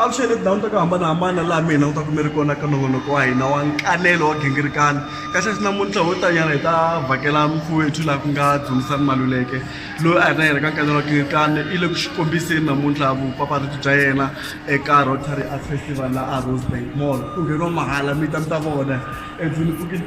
avuxeni tindhawu ta ku hambanahambana laha mi hina kutaku mi ri kona ka nongonoko wa hina wa nkanelo wa gingirikani kasi swi namuntlha ho tanyana hi ta vhakela mfowethu laha ku nga dzumisani maluleke loyi a hi na yena ka nkanelo wa gingirikani i le ku swi kombiseni namuntlha vupapalati bya yena eka rotary art festival laha a rosebank mall ku ngheniwa mahala mi ta mi ta vona endlwini pfukile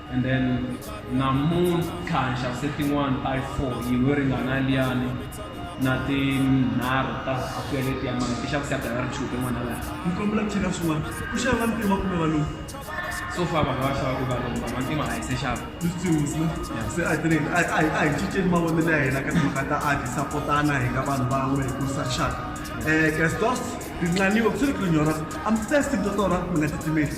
and then namuntlha nxavise tin'wana ta yi four yin'we yo ringana liyani na tinharhu ta akweleti ya mali ti xavise ya dayari two tin'wana laha ni kombela ku cheka swin'wana ku xava va ntima kumbe valungu so far vanhu va xava ku valungu vanhu vantima a hi se xava lutsingu se a tirheni a hi a hi cinceni mavonelo ya hina ka timhaka ta a hi sapotana hi nga vanhu van'we hi kurisa rixaka um gastos rinqaniwe ku swi ri ku rinyora amsesi mtotora mi nga titimeli